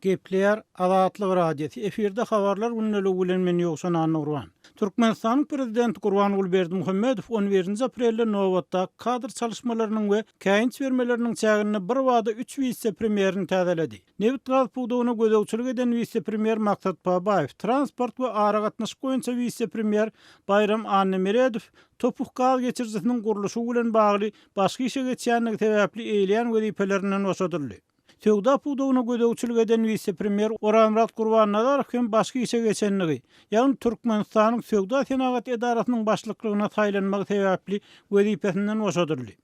Gepleýär Azatlyk Radiosy, efirde Habarlar gündeliği bilen men Ýowşan Annagurban. Türkmenistanyň Prezidenti Gurbanguly Berdimuhamedow on birinji aprelde nobatdaky kadr çalyşmalarynyň we käýinç bermeleriniň çäginde birbada üç wise-premýerini täzeledi. Nebit-gaz pudagyna gözegçilik eden wise-premýer Maksat Babaýew, transport we aragatnaşyk boýunça wise-premýer Baýram Annameredow Topuh gaz geçirijisiniň gurluşygy bilen bagly başga işe geçýändigi sebäpli eýleýän wezipelerinden boşadyldy. Söwda pudagyna gözegçilik eden wise-premýer Orazmyrat Gurbannazarow hem başga işe geçenligi, ýagny Türkmenistanyň Söwda-senagat edarasynyň başlyklygyna saýlanmagy sebäpli wezipesinden boşadyldy.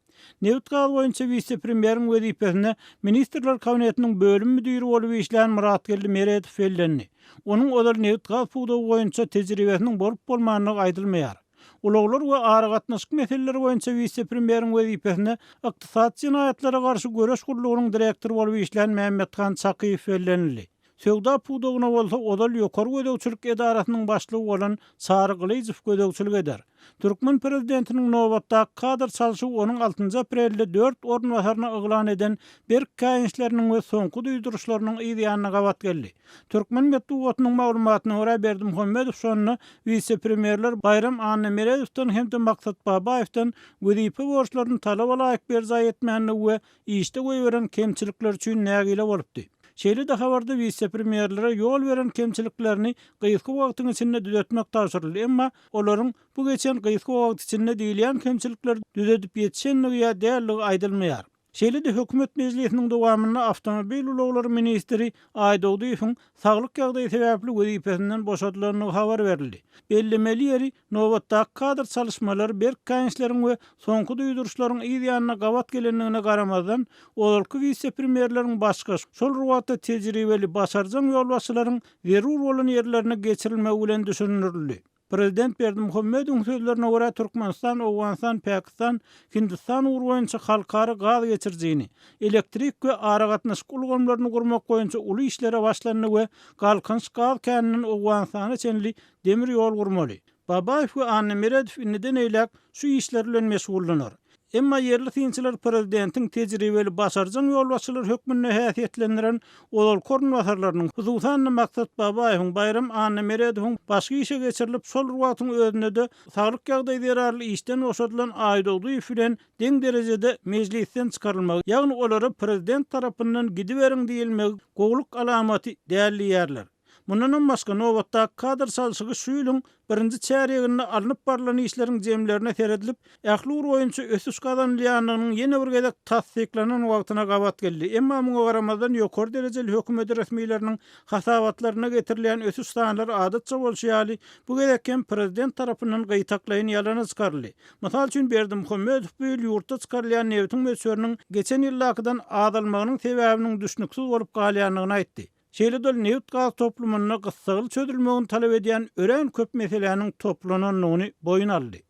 Nebit-gaz boýunça wise-premýeriň wezipesine Ministrler Kabinetiniň bölüm müdiri bolup işlän Myratgeldi Meredow bellendi. Onuň ozal nebit-gaz pudagy boýunça tejribesiniň bolup-bolmandygy aýdylmaýar. Ulaglar we aragatnaşyk meseleleri boýunça wise-premýeriň wezipesine Ykdysady jenaýatlara garşy göreş gullugynyň direktory bolup işlän Mämmethan Çakyýew bellenildi. Söwda pudagyna bolsa ozal Ýokary gözegçilik edarasynyň başlygy bolan Çary Gylyjow gözegçilik eder. Türkmen prezidentiniň nobatdaky kadr çalşy onuň altynjy aprelde dört orunbasaryny yglan eden berk käýinçleriniň we soňky duýduryşlarynyň yzýanyna gabat geldi. Türkmen metbugatynyň maglumatyna görä, Berdimuhamedow şonda wise-premýerler Baýram Annamerezowdan hem-de Maksat Babaýewden wezipe borçlaryny talaba laýyk berjaý etmändigi we işde goýberen kemçilikleri üçin nägile bolupdy. Şeýle-de habarda wise-premýerlere ýol beren kemçiliklerini gysga wagtyň içinde düzetmek tabşyryldy, emma olaryň bu geçen gysga wagt içinde diýilýän kemçilikleri düzedip ýetişendigi ýa däldigi aýdylmaýar. Şeýle-de hökümet mejlisiniň dowamynda awtomobil ulaglary ministri Aýdogdyýewiň saglyk ýagdaýy sebäpli wezipesinden boşadylandygy habar berildi. Bellemeli ýeri, nobatdaky kadr çalyşmalary berk käýinçleriň we soňky duýduryşlaryň yz ýanyna gabat gelendigine garamazdan, ozalky wise-premýerleriň başga şol rubatda tejribeli, başarjaň ýolbaşçylaryň zerur bolan ýerlerine geçirilmegi bilen düşündirildi. Prezident Berdimuhamedowyň sözlerine görä, Türkmenistan, Owganystan, Pakistan, Hindistan ugry boýunça halkara gaz geçirijini, elektrik we aragatnaşyk ulgamlaryny gurmak boýunça uly işlere başlandy we Galkynyş gaz käninden Owganystana çenli demir ýol gurmaly. Babaýew we Annameredow indiden eýläk şu işler bilen meşgullanar. Emma ýerli synçylar prezidentiň tejribeli başarjaň ýolbaşçylar hökmünde häsiýetlendiren ozalky orunbasarlarynyň, hususan-da, Maksat Babaýewiň, Baýram Annameredowyň başky işe geçirilip, şol bir wagtyň özünde-de saglyk ýagdaýy zerarly işden boşadylan Aýdogdyýew bilen deň derejede mejlisden çykarylmagy, ýagny olara prezident tarapyndan gidiberiň diýilmegi gowulyk alamaty däl diýýärler. Mundanam başga, nobatdaky kadr çalşygy şu ýylyň birinji çärýeginde alnyp barlan işleriň jemlerine seredilip, ähli ugur boýunça ösüş gazanylýandygynyň ýene bir gezek tassyklanan wagtyna gabat geldi. Emma muňa garamazdan, ýokary derejeli hökümet resmileriniň hasabatlarynda getirilýän ösüş sanlary adatça bolşy ýaly, bu gezek hem prezident tarapyndan gytaklaýyn ýalana çykaryldy. Mysal üçin, Berdimuhamedow bu ýyl ýurtda çykarylýan nebitiň möçberiniň geçen ýyldakydan azalmagynyň sebäbiniň düşnüksiz bolup galýandygyny aýtdy. Şeýle-de nebit-gaz toplumynda gyssagly çözülmegini talap edýän örän köp meseläniň toplanandygyny boýun aldy.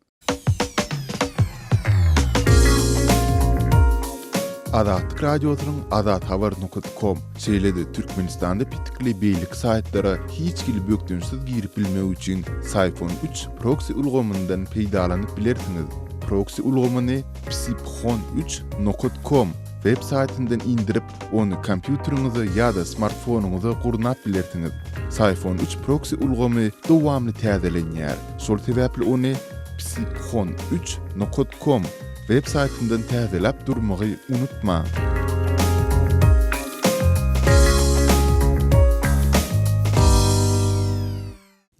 Azatlyk Radiosynyň Azathabar nokta kom, şeýle-de Türkmenistanda petikli beýleki saýtlara hiç hili bökdençsiz girip bilmek üçin Syphon üç proksi ulgamyndan peýdalanyp bilersiňiz. Proksi ulgamyny psiphoneüç nokat kom web saýtyndan indirip, Ony kompýuteriňize ýa-da smartfonyňyza gurnap bilersiňiz. Syphon üç proksi ulgamy dowamly täzelenýär, şol sebäpli ony psiphon üç nokat kom web saýtyndan täzeläp durmagy unutmaň.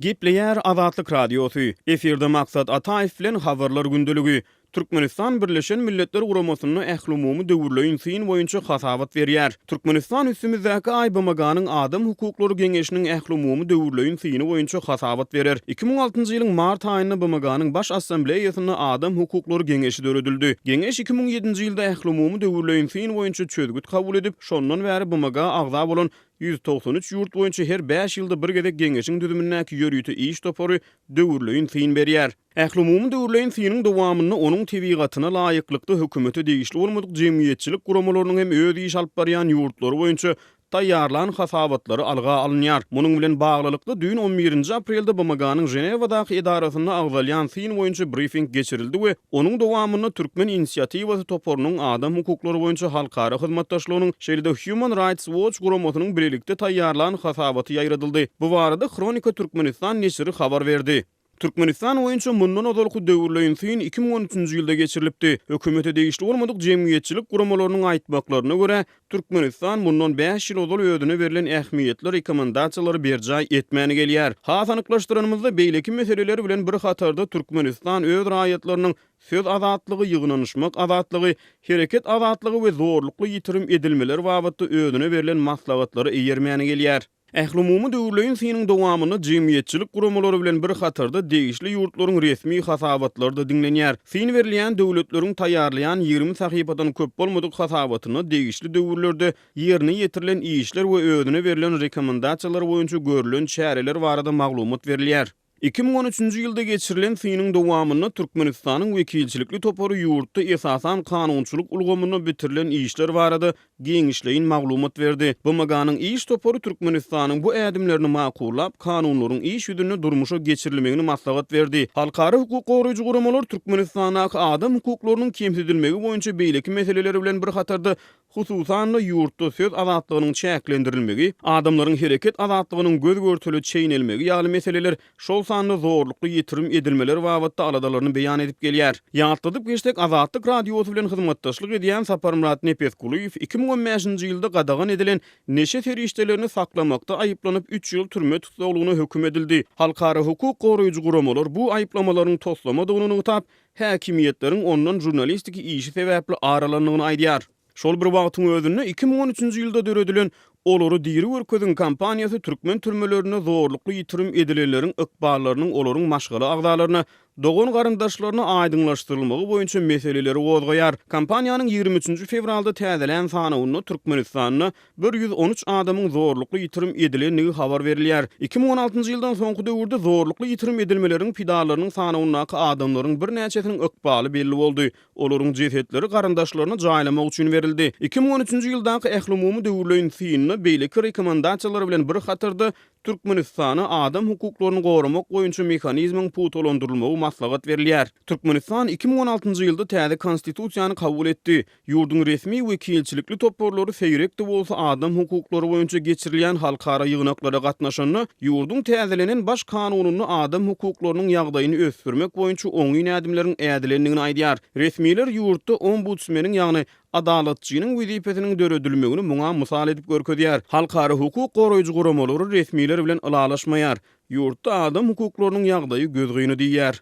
Gepleýär Azatlyk Radiosy, efirde Maksat Ataýew bilen Habarlar gündeligi. Türkmenistan Birleşen Milletler Guramasynda ählumumy döwürleýin syn boýunça hasabat berýär. Türkmenistan üstümizdäki aý BMG-niň Adam hukuklary geňeşiniň ählumumy döwürleýin syny boýunça hasabat berer. Iki müň altynjy ýylyň mart aýynda BMG-niň Baş Assambleýasynda Adam hukuklary geňeşi döredildi. Geňeş iki müň ýedinji ýylda ählumumy döwürleýin syn boýunça çözgüt kabul edip, şondan bäri BMG-a agza bolan Ýüz togsan üç ýurt boýunça her bäş ýylda bir gezek Geňeşiň düzümindäki ýörite iş topary döwürleýin syn berýär. Ählumumy döwürleýin synyň dowamynda onuň tebigatyna laýyklykda hökümete degişli bolmadyk jemgyýetçilik guramalarynyň hem öz iş alyp barýan ýurtlary boýunça taýýarlan hasabatlary alga alynýar. Munuň bilen baglylykda, düýn on birinji aprelde BMG-niň Ženewadaky edarasynda agzalýan syn boýunça brifing geçirildi we Onuň dowamynda Türkmen inisiatiwasy toparynyň adam hukuklary boýunça halkara hyzmatdaşlygynyň, şeýle-de Human Rights Watch guramasynyň bilelikde taýýarlan hasabaty ýaýradyldy. Bu barada Hronika Türkmenistan neşiri habar berdi. Türkmenistan boýunça mundan ozalky döwürleýin syn iki müň on üçünji ýylda geçirilipdi. Hökümete degişli bolmadyk jemgyýetçilik guramalarynyň aýtmaklaryna görä, Türkmenistan mundan bäş ýyl ozal özüne berlen ähmiýetli rekomendasiýalary berjaý etmän gelýär. Has anyklaşdyranymyzda, beýleki meseleler bilen bir hatarda Türkmenistan öz raýatlarynyň söz azatlygy, ýygnanyşmak azatlygy, hereket azatlygy we zorlukly ýitirim edilmeler babatda özüne berlen maslahatlara eýermän gelýär. Ählumumy döwürleýin synyň dowamynda jemgyýetçilik guramalary bilen bir hatarda degişli ýurtlaryň resmi hasabatlary-da diňlenýär. Syn berilýän döwletleriň taýýarlaýan ýigrimi sahypadan köp bolmadyk hasabatyna degişli döwürlerde ýerine ýetirilen işler we özüne berlen rekomendasiýalar boýunça görülen çäreler barada maglumat berilýär. Iki müň on üçünji ýylda geçirilen synyň dowamynda Türkmenistanyň wekilçilikli topary ýurtda esasan kanunçylyk ulgamynda bitirilen işler barada giňişleýin maglumat berdi. BMG-niň iş topary Türkmenistanyň bu ädimlerini makullap, kanunlaryň iş ýüzünde durmuşa geçirilmegini maslahat berdi. Halkara hukuk goraýjy guramalar Türkmenistandaky adam hukuklarynyň kemsidilmegi boýunça beýleki meseleler bilen bir hatarda Hususan-da, ýurtda söz azatlygynyň çäklendirilmegi, adamlaryň hereket azatlygynyň göz-görtele çeýnelmegi ýaly meseleler, şol sanda zorlukly ýitirim edilmeler babatda aladalaryny beýan edip gelýär. Ýatladyp geçsek, Azatlyk Radiosy bilen hyzmatdaşlyk edýän Saparmyrat Nepesgulyýew iki müň on bäşinji ýylda gadagan edilen neşe serişdelerini saklamakda aýyplanyp, üç ýyl türme tussaglygyna höküm edildi. Halkara hukuk goraýjy guramalar bu aýyplamalaryň toslamadygyny nygtap, häkimiýetleriň ondan žurnalistiki işi sebäpli aralandygyny aýdýar. Şol bir wagtyň özünde iki müň on üçünji ýylda döredilen Olary diri görkeziň kampaniýasy türkmen türmelerinde zorlukly ýitirim edilenleriň ykballarynyň olaryň maşgala agzalaryna, dogan-garyndaşlaryna aýdyňlaşdyrylmagy boýunça meseleleri gozgaýar. Kampaniýanyň ýigrimi üçünji fewralda täzelän sanawynda Türkmenistanda Bir ýüz on üç adamyň zorlukly ýitirim edilendigi habar berilýär. Iki müň on altynjy ýyldan soňky döwürde zorlukly ýitirim edilmeleriň pidalarynyň sanawyndaky adamlaryň birnäçesiniň ykbaly belli boldy. Olaryň jesetleri garyndaşlaryna jaýlamak üçin berildi. Iki müň on üçünji ýyldaky ählumumy döwürleýin synynda beýleki rekomendasiýalar bilen bir hatarda Türkmenistana adam hukuklaryny goramak boýunça mehanizmiň pugtalandyrylmagy maslahat berilýär. Türkmenistan iki müň on altynjy ýylda täze Konstitusiýany kabul etdi. Ýurduň resmi we kilçilikli toparlary seýrek-de bolsa adam hukuklary boýunça geçirilýän halkara ýygnaklara gatnaşanda, ýurduň täzelenen Baş kanunynda adam hukuklarynyň ýagdaýyny ösdürmek boýunça oňyn ädimleriň ädilendigini aýdýar. Resmiler ýurtda ombudsmeniň, ýagny Adalatçynyň wezipesiniň döredilmegini muňa mysal edip görkezýär. Halkara hukuk goraýjy guramalary resmiler bilen ylalaşmaýar, ýurtda adam hukuklarynyň ýagdaýy gözgyny diýýär.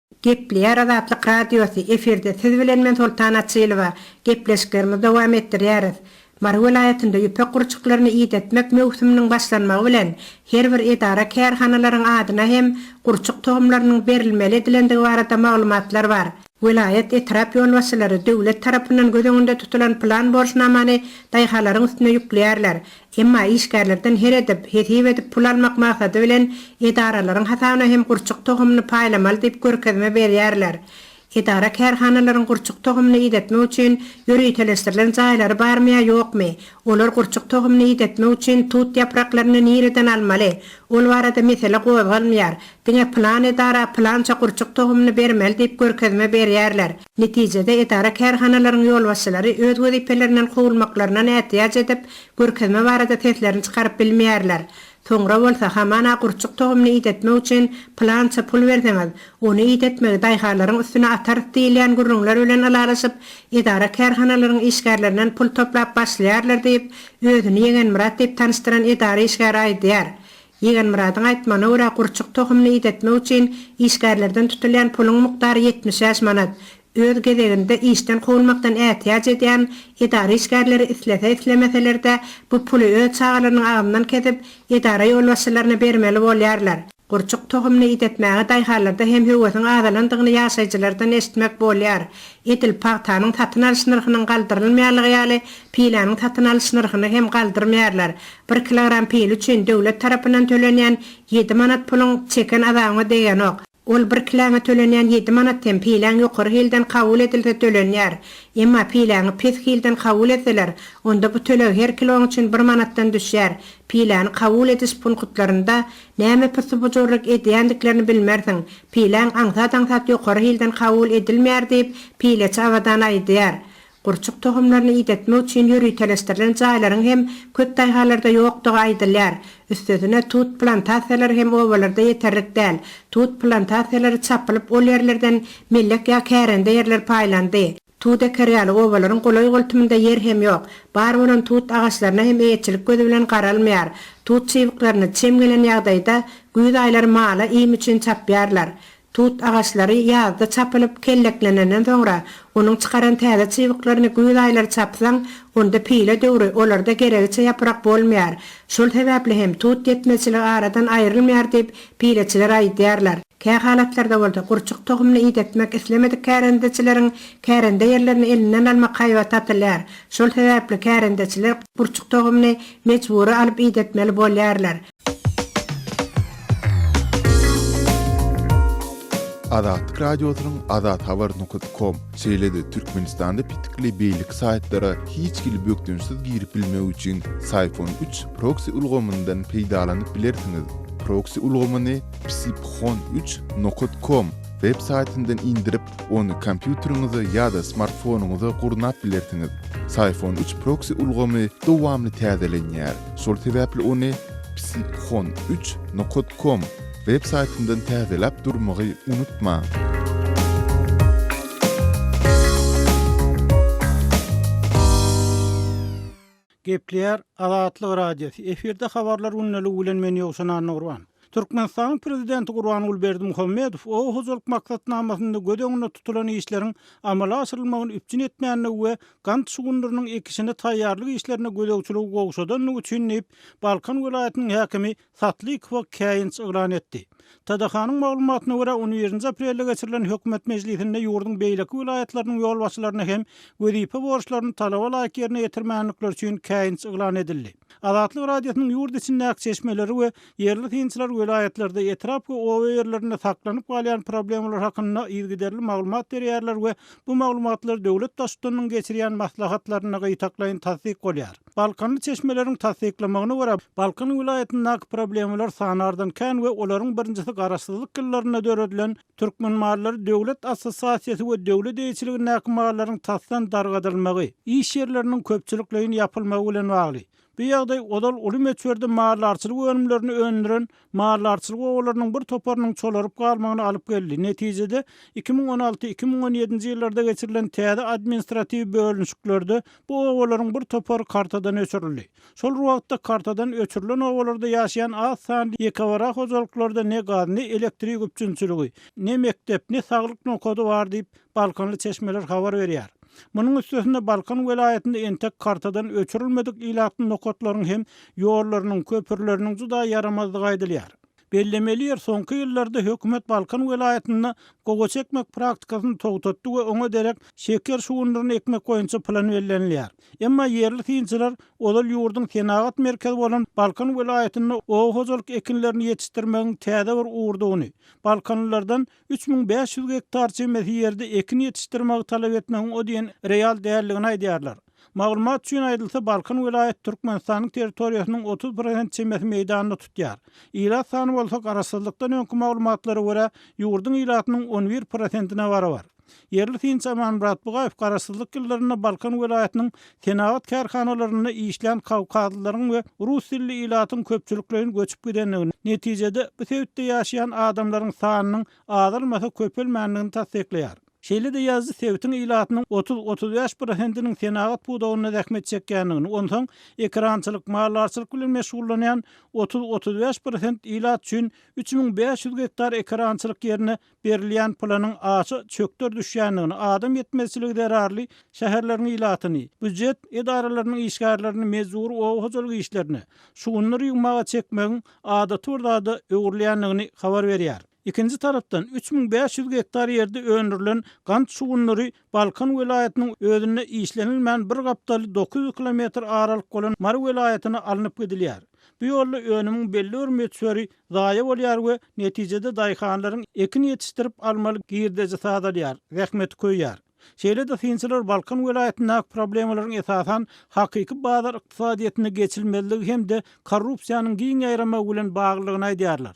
Gepleýär Azatlyk Radiosy, efirde siz bilen men Soltan Açylowa, gepleşiklerimizi dowam etdirýäris. Mary welaýatynda ýüpek gurçuklaryny idetmek möwsüminiň başlanmagy bilen her bir edara-kärhanalaryň adyna hem gurçuk tohumlarynyň berilmeli edilendigi barada maglumatlar bar. Welaýat, etrap ýolbaşçylary döwlet tarapyndan göz öňünde tutulan plan borçnamany daýhanlaryň üstüne ýükleýärler. Emma işgärlerden her edip, hesip edip pul almak maksady bilen edaralaryň hasabyna hem gurçuk tohumyny paýlamaly diýip görkezme berýärler. Edara-kärhanalaryň gurçuk tohumyny idetmek üçin ýöriteleşdirilen jaýlary barmy ýa ýokmy? Olar gurçuk tohumyny idetmek üçin tut ýapraklaryny nireden almaly? Ol barada mesele gozgalmaýar. Diňe pylan edara pylança gurçuk tohumyny bermeli diýip görkezme berýärler. Netijede, edara-kärhanalaryň ýolbaşçylary öz wezipelerinden kowulmaklaryna nätýaç edip, görkezme barada seslerini çykaryp bilmeýärler. Soňra bolsa, hamana gurçuk tohumyny idetmek üçin pylança pul berseňiz, ony idetmegi daýhanlaryň üstüne atarys diýilýän gürrüňler bilen ylalaşyp, edara-kärhanalaryň işgärlerinden pul toplap başlaýarlar diýip, özüni Ýegenmyrat diýip tanyşdyran edara işgäri aýdýar. Ýigenmyradyň aýtmagyna görä, gurçuk tohumyny idetmek üçin işgärlerden tutulýan puluň mukdary ýetmiş bäş manat. Öz gezeginde, işden kowulmakdan ätiýaç edýän edara işgärleri islese-islemeseler-de, bu puly öz çagalarynyň agzyndan kesip, edara ýolbaşçylaryna bermeli bolýarlar. Gurçuk tohumyny idetmäge daýhanlarda hem höwesiň azalandygyny ýaşaýjylardan eşitmek bolýar. Edil pagtanyň satyn alyş nyrhynyň galdyrylmaýanlygy ýaly, Piläniň satyn alyş nyrhyny hem galdyrmaýarlar. Bir kilogram pile üçin döwlet tarapyndan tölenýän ýedi manat puluň çeken azabyňa degenok. Ol bir kiläňe tölenýän ýedi manat hem piläň ýokary hilden kabul edilse tölenýär. Emma piläňi pes hilden kabul etseler, onda bu töleg her kiloň üçin bir manatdan düşýär. Piläni kabul ediş punktlarynda näme pyssy-bujurlyk edýändiklerini bilmersiň. Piläň aňsat-aňsat ýokary hilden kabul edilmeýär diýip, pileçi Abadan aýdýar. Gurçuk tohumlaryny idetmek üçin ýöriteleşdirilen jaýlaryň hem köp daýhanlarda ýokdugy aýdylýar. Üstesine, tut plantasiýalary hem obalarda ýeterlik däl. Tut plantasiýalary çapylyp, ol ýerlerden mellek ýa kärende ýerler paýlandy. Tut eker ýaly obalaryň golaý-goltumynda ýer hem ýok. Bar bolan tut agaçlaryna hem eýeçilik gözi bilen garalmaýar. Tut çybyklaryny, çem gelen ýagdaýda, güýz aýlary mala iým üçin çapýarlar. Tut agaçlary ýazda çapylyp, kelleklenenden soňra, onuň çykaran täze çybyklaryny güýz aýlary çapsaň, onda pile döwri olarda geregiçe ýaprak bolmaýar. Şol sebäpli hem tut ýetmezçiligi aradan aýrylmaýar diýip, pileçiler aýdýarlar. Kä halatlarda bolsa, gurçuk tohumyny idetmek islemedik kärendeçileriň kärende ýerlerini elinden almak haýbaty atylýar. Şol sebäpli kärendeçiler gurçuk tohumyny mejbury alyp idetmeli bolýarlar. Azatlyk Radiosynyň azathabar nokta kom, şeýle-de Türkmenistanda petikli beýleki saýtlara hiç hili bökdençsiz girip bilmek üçin Syphon üç proksi ulgamyndan peýdalanyp bilersiňiz. Proksi ulgamyny psiphoon üç nokat kom web saýtyndan indirip, Ony kompýuteriňize ýa-da smartfonyňyza gurnap bilersiňiz. Syphon üç proksi ulgamy dowamly täzelenýär, şol sebäpli ony psiphon üç nokat kom web saýtyndan täzeläp durmagy unutmaň. Gepleýär Azatlyk Radiosy, Efirde Habarlar gündäligi bilen men Ýowşan Annagurban. Türkmenistanyň Prezidenti Gurbanguly Berdimuhamedow oba hojalyk maksatnamasynda göz öňünde tutulan işleriň amala aşyrylmagyny üpjün etmändigi we gant şugundyrynyň ekişine taýýarlyk işlerine gözegçiligi gowşadandygy üçin diýip, Balkan welaýatynyň häkimi Satlykowa käýinç yglan etdi. TDH-nyň maglumatyna görä, on birinji aprelde geçirilen hökümet mejlisinde ýurduň beýleki welaýatlarynyň ýolbaşçylaryna hem wezipe borçlaryny talaba laýyk ýerine ýetirmändikleri üçin käýinç yglan edildi. Azatlyk Radiosynyň ýurt içindäki çeşmeleri we ýerli synçylar welaýatlarda, etrap we oba ýerlerinde saklanyp galýan problemalar hakynda yzygiderli maglumat berýärler we bu maglumatlar döwlet baştutanynyň geçirýän maslahatlarynda gytaklaýyn tassyk bolýar. Balkanly çeşmeleriň tassyklamagyna görä, Balkan welaýatyndaky problemalar sanardan kän we olaryň birinjisi Garaşsyzlyk ýyllarynda döredilen Türkmen mallary döwlet assosiasiýasy we döwlet eýeçiligindäki mallaryň tasdan dargadylmagy, iş ýerleriniň köpçülikleýin ýapylmagy bilen bagly. Bu ýagdaý ozal uly möçberde maldarçylyk önümlerini öndüren maldarçylyk obalarynyň bir toparynyň çolaryp galmagyna alyp geldi. Netijede, iki müň on alty, iki müň on ýedinji ýyllarda geçirilen täze administratiw bölünişiklerde bu obalaryň bir topary kartadan öçürildi. Şol bir wagtda, kartadan öçürilen obalarda ýaşaýan az sanly ýekebara hojalyklarda ne gaz, ne elektrik üpjünçiligi, ne mekdep, ne saglyk nokady bar diýip, balkanly çeşmeler habar berýär. Munuň üstesine Balkan welaýatynda entek kartadan öçürilmedik ilatly nokatlaryň hem ýollarynyň, köprüleriniň juda ýaramazdygy aýdylýar. Bellemeli ýer, soňky ýyllarda hökümet Balkan welaýatynda gowaça ekmek praktikasyny togtatdy we oňa derek şeker şugundyryny ekmek boýunça plan bellenilýär. Emma ýerli synçylar ozal ýurduň senagat merkezi bolan Balkan welaýatynda oba hojalyk ekinlerini ýetişdirmegiň täze bir ugurdygyny, balkanlylardan üç müň bäş ýüz gektar çemesi ýerde ekin ýetişdirmegi talap etmegiň o diýen real däldigini aýdýarlar. Maglumat üçin aýdylsa, Balkan welaýaty Türkmenistanyň territoriýasynyň otuz prosent çemesi meýdanyny tutýar. Ilat sany bolsa garaşsyzlykdan öňki maglumatlara görä, ýurduň ilatynyň on bir prosentine barabar. Ýerli synçy Amanmyrat Bugaýew garaşsyzlyk ýyllarynda Balkan welaýatynyň senagat kärhanalarynda işlän kawkazlylaryň we rus dilli ilatyň köpçülikleýin göçüp gidendigini, netijede, bu sebitde ýaşaýan adamlaryň sanynyň azalmasa köpelmändigini tassyklaýar. Şeýle-de ýazyjy sebitiň ilatynyň otuz-otuz bäş prosentiniň senagat pudagynda zähmet çekýändigini, onsoň ekerançylyk, maldarçylyk bilen meşgullanýan otuz-otuz bäş prosent ilat üçin üç müň bäş ýüz gektar ekerançylyk ýerine berilýän planyň aşa çökder düşýändigini, adam ýetmezçiligi zerarly şäherleriň ilatyny, býujet edaralarynyň işgärlerini mejbury oba hojalyk işlerine, şugundyr ýygmaga çekmegiň adaty bir zada öwrülýändigini habar berýär. Ikinji tarapdan, üç müň bäş ýüz gektar ýerde öndürilen gant şugundyry Balkan welaýatynyň özünde işlenilmän bir gapdaly dokuz ýüz kilometr aralyk bolan Mary welaýatyna alnyp gidilýär. Bu ýolda önümiň belli bir möçberi zaýa bolýar we netijede daýhanlaryň ekin ýetişdirip almaly girdejisi azalýar, zähmeti köýýär. Şeýle-de synçylar Balkan welaýatyndaky problemalaryň esasan hakyky bazar ykdysadyýetinde geçilmezligi hem-de korrupsiýanyň giň ýaýramagy bilen baglydygyny aýdýarlar.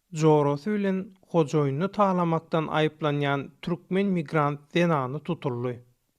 jorasy bilen hojaýynyny talamakdan aýyplanýan türkmen migrant zenany tutuldy.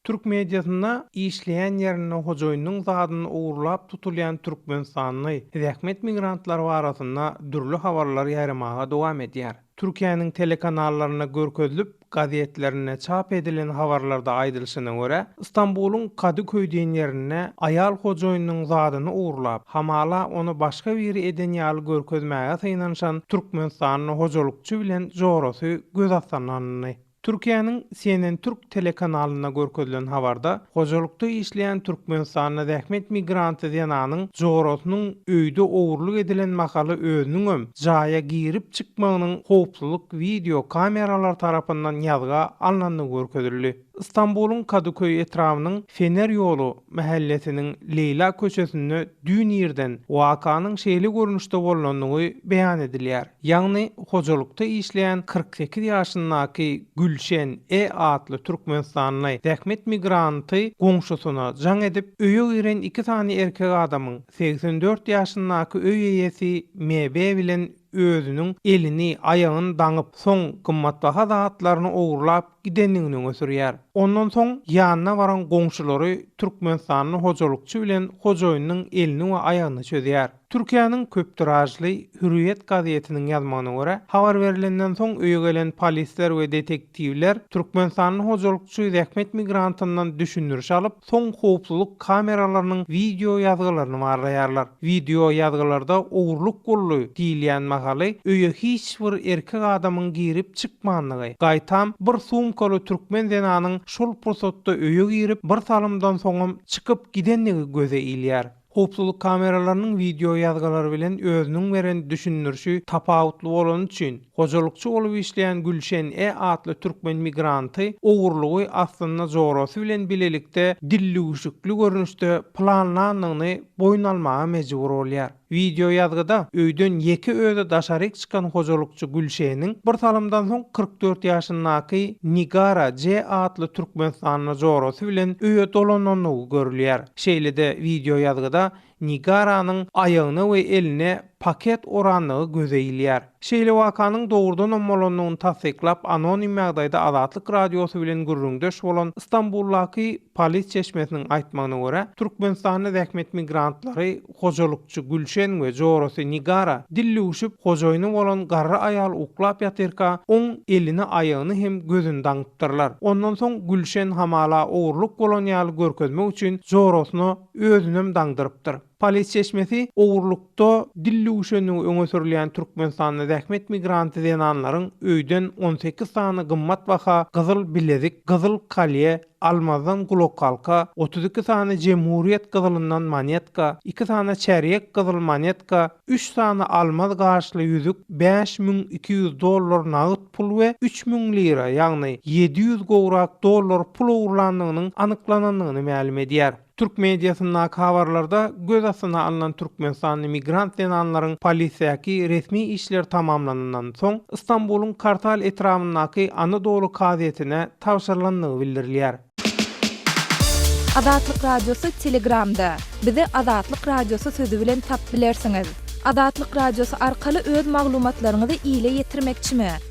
Türk mediasynda işleýän ýerinde hojaýynynyň zadyny ogurlap tutulýan türkmenistanly zähmet migrantlary barasynda dürli habarlar ýaýramaga dowam edýär. Türkiýäniň telekanallarynda görkezilip, gazetlerinde çap edilen habarlarda aýdylyşyna görä, Stambulyň Kadyköý diýen ýerinde aýal hojaýynynyň zadyny ogurlap, hamala ony başga biri eden ýaly görkezmäge synanyşan türkmenistanly hojalykçy bilen jorasy göz astynda alyndy. Türkiýäniň CNN Türk telekanalyna görkezilen habarda, Hojalykda işleýän türkmenistanly zähmet migranty zenanyň jorasynyň öýde ogurlyk edilen mahaly özüniňem jaýa girip çykmagynyň howpsuzlyk wideo kameralary tarapyndan ýazga alnandygy görkezildi. Stambulyň Kadyköý etrabynyň Fener ýoly mähellesiniň Leýla köçesinde Düýn irden wakanyň şeýle görnüşde bolandygy beýan edilýär. Ýagny, hojalykda işleýän kyrk sekiz ýaşyndaky Gülşen E. atly türkmenistanly zähmet migranty goňşusyna jaň edip, öýe giren iki sany erkek adamyň, segsen dört ýaşyndaky öý eýesi M. B. bilen özüniň elini, aýagyny daňyp, soň gymmatbaha zatlaryny ogurlap gidendigini öňe sürýär. Ondan soň ýanyna baran goňşulary türkmenistanly hojalykçy bilen hojaýynyň elini we aýagyny çözýär. Türkiýäniň köptiražly Hürriýet gazetiniň ýazmagyna görä, habar berlenden soň öýe gelen polisler we detektiwler Tiwler türkmenistanly hojalykçy zähmet migrantyndan düşündiriş alyp, soň howpsuzlyk kameralarynyň wideo ýazgylaryny barlaýarlar. Wideo ýazgylarda ogurlyk boldy diýilýän mahaly öýe hiç bir erkek adamyň girip çykmandygy, gaýtam bir sumkaly türkmen zenanyň şol pursatda öýe girip bir salymdan soňam çykyp gidendigi göze ilýär. Howpsuzlyk kameralarynyň wideo ýazgylary bilen özüniň beren düşündirişi tapawutly bolany üçin, hojalykçy bolup işleýän Gülşen E atly türkmen migranty ogurlygy aslynda jorasy bilen bilelikde dillüwşükli görnüşde planlandygyny boýun almaga mejbur bolýar. Wideo ýazgyda öýden ýeke özi daşaryk çykan hojalykçy Gülşeniň bir salymdan soň kyrk dört ýaşyndaky Nigara J atly türkmenistanly jorasy bilen öýe dolanandygy görülýär. Şeýle-de wideoýazgyda Nigaranyň aýagyna we eline paket orandygy göze ilýär. Şeýle wakanyň dogrudanam bolandygyny tassyklap, anonim ýagdaýda Azatlyk Radiosy bilen gürrüňdeş bolan Stambuldaky polis çeşmesiniň aýtmagyna görä, Türkmenistanda zähmet migrantlary, Hojalykçy Gülşen we jorasy Nigara dillüwşüp, hojaýyny bolan garry aýal uklap ýatyrka, oň elini, aýagyny hem gözüni daňypdyrlar. Ondan soň Gülşen hamala ogurlyk bolan ýaly görkezmek üçin jorasyna özünem daňdyrypdyr. Polis çeşmesi ogurlykda dillüwşendigi öňe sürülýän Türkmenistanda zähmet migranty zenanlaryň öýden on sekiz sany gymmat baha gyzyl bilezik, gyzyl kolýe, Almazdan gulakhalka, otuz iki sany jemhuriýet gyzylyndan monetka, iki sany çärýek gyzyl monetka, üç sany almaz gaşly ýüzük, bäş müň iki ýüz dollar nagt pul we üç müň lira, ýagny ýedi ýüz gowrak dollar pul ogurlandygynyň anyklanandygyny mälim edýär. Türk mediasyndaky habarlarda göz astyna alnan türkmenistanly migrant zenanlaryň polisiýaky resmi işleri tamamlanandan soň Istanbulyň Kartal etrabyndaky Anadolu kazyýetine tabşyrylandygy bildirilýär. Azatlyk Radiosy Telegramda, Bizi Azatlyk Radiosy sözi bilen tapyp bilersiňiz! Azatlyk Radiosy arkaly öz maglumatlaryňyzy ile ýetirmekçimi?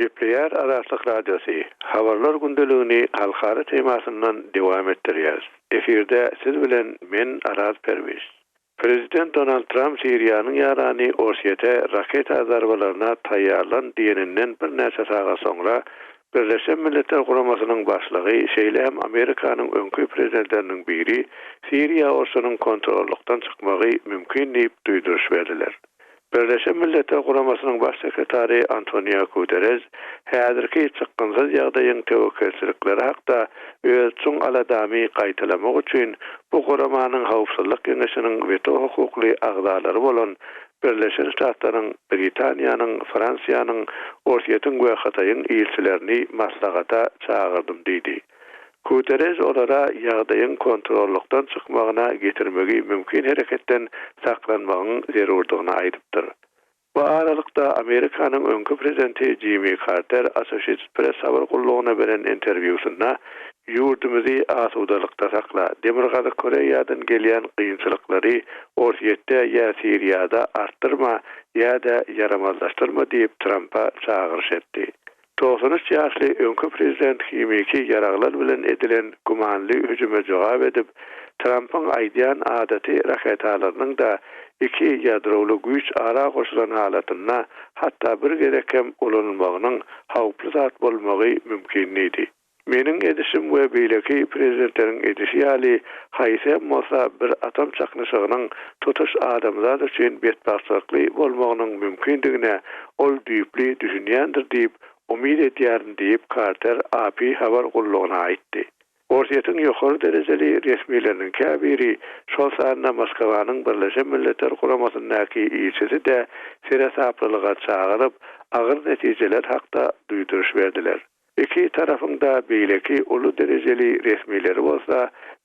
Gepleýär Azatlyk Radiosy, Habarlar gündeligini halkara temasyndan dowam etdirýäs. Efirde siz bilen men Araz Perwiz. Prezident Donald Tramp Siriýanyň ýarany Orsýete raketa zarbalaryna taýýarlan diýeninden birnäçe sagat soňra Birleşen Milletler Guramasynyň başlygy şeýle hem Amerikanyň öňki prezidentleriniň biri Siriýa urşunyň kontrollykdan çykmagy mümkin diýip duýduryş berdiler. Birleşen Milletler Guramasynyň Baş sekretary Antonio Guterrež häzirki çykgynsyz ýagdaýyň töwekgelçilikleri hakda öz çuň aladamy gaýtalamak üçin bu guramanyň Howpsuzlyk Geňeşiniň weto hukukly agzalary bolan Birleşen Ştatlaryň, Britaniýanyň, Fransiýanyň, Orsýetiň we Hytaýyň ilçilerini maslahata çagyrdym diýdi. Guterreş olara ýagdaýyň kontrollykdan çykmagyna getirmegi mümkin hereketden saklanmagyň zerurdygyny aýdypdyr. Bu aralykda, Amerikanyň öňki prezidenti Jimmi Karter Associated Press habar gullugyna beren interwýusynda Ýurdumyzy asudalykda sakla, Demirgazyk Koreýadan gelýän gynçylyklary Orsýetde ýa Siriýada artdyrma ýa-da ýaramazlaşdyrma diýip Trampa çagyryş etdi. Togsan üç ýaşly öňki prezident himiki ýaraglar bilen edilen gümanly hüjüme jogap edip, Trampyň aýdýan adaty raketalarynyň-da iki ýadrowly güýç ara goşulan halatynda hatda bir gezek hem ulanylmagynyň howply zat bolmagy mümkin diýdi. Meniň edişim we beýleki prezidentleriň edişi ýaly haýsy hem bolsa bir atom çaknyşygynyň tutuş adamzat üçin betbagtçylykly bolmagynyň mümkindigine ol düýpli düşünýändir diýip umyt edýärin diýip Karter AP habar gullugyna aýtdy. Orsýetiň ýokary derejeli resmileriniň käbiri, şol sanda Moskawanyň Birleşen Milletler Guramasyndaky ilçisi-de seresaplylyga çagyryp, agyr netijeler hakda duýduryş berdiler. Iki tarapyň-da beýleki uly derejeli resmileri bolsa,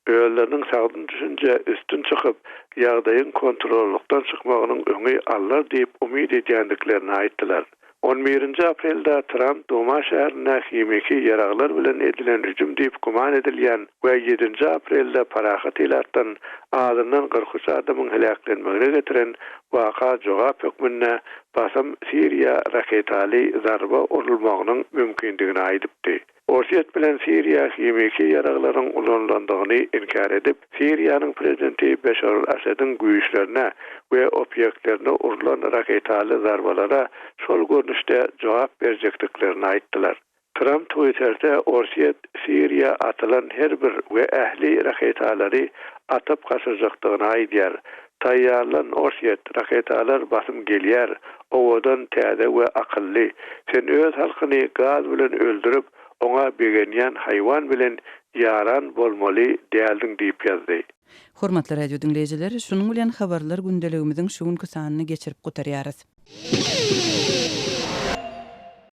özleriniň sagdyn düşünjä üstün çykyp, ýagdaýyň kontrollykdan çykmagynyň öňi alnar diýip umyt edýändiklerini aýtdylar. On birinji aprelde Tramp Duma şäherine himiki ýaraglar bilen edilen hüjüm diýip güman edilýän we ýedinji aprelde parahat ilatdan azyndan kyrk üç adamyň heläklenmegine getiren waka jogap hökmünde basym Siriýa raketaly zarba urulmagynyň mümkindigini aýdypdy. Orsýet bilen Siriýa himiki ýaraglaryň ulanylandygyny inkär edip, Siriýanyň prezidenti Beşar al-Assadiň güýçlerine we obýektlerine urlan raketaly zarbalara şol görnüşde jogap berjekdiklerini aýtdylar. Tramp Twitterde Orsýet Siriýa atylan her bir we ähli raketalary atyp gaçyrjakdygyny aýdýar. Taýýarlan Orsýet, raketalar basym gelýär, owadan, täze we akylly. Sen öz halkyny gaz bilen öldürip, oňa begenýän haýwan bilen ýaran bolmaly däldiň diýip ýazdy. Hormatly radio diňleýjiler, şunuň bilen Habarlar gündeligimiziň şu günki sanyny geçirip gutarýarys.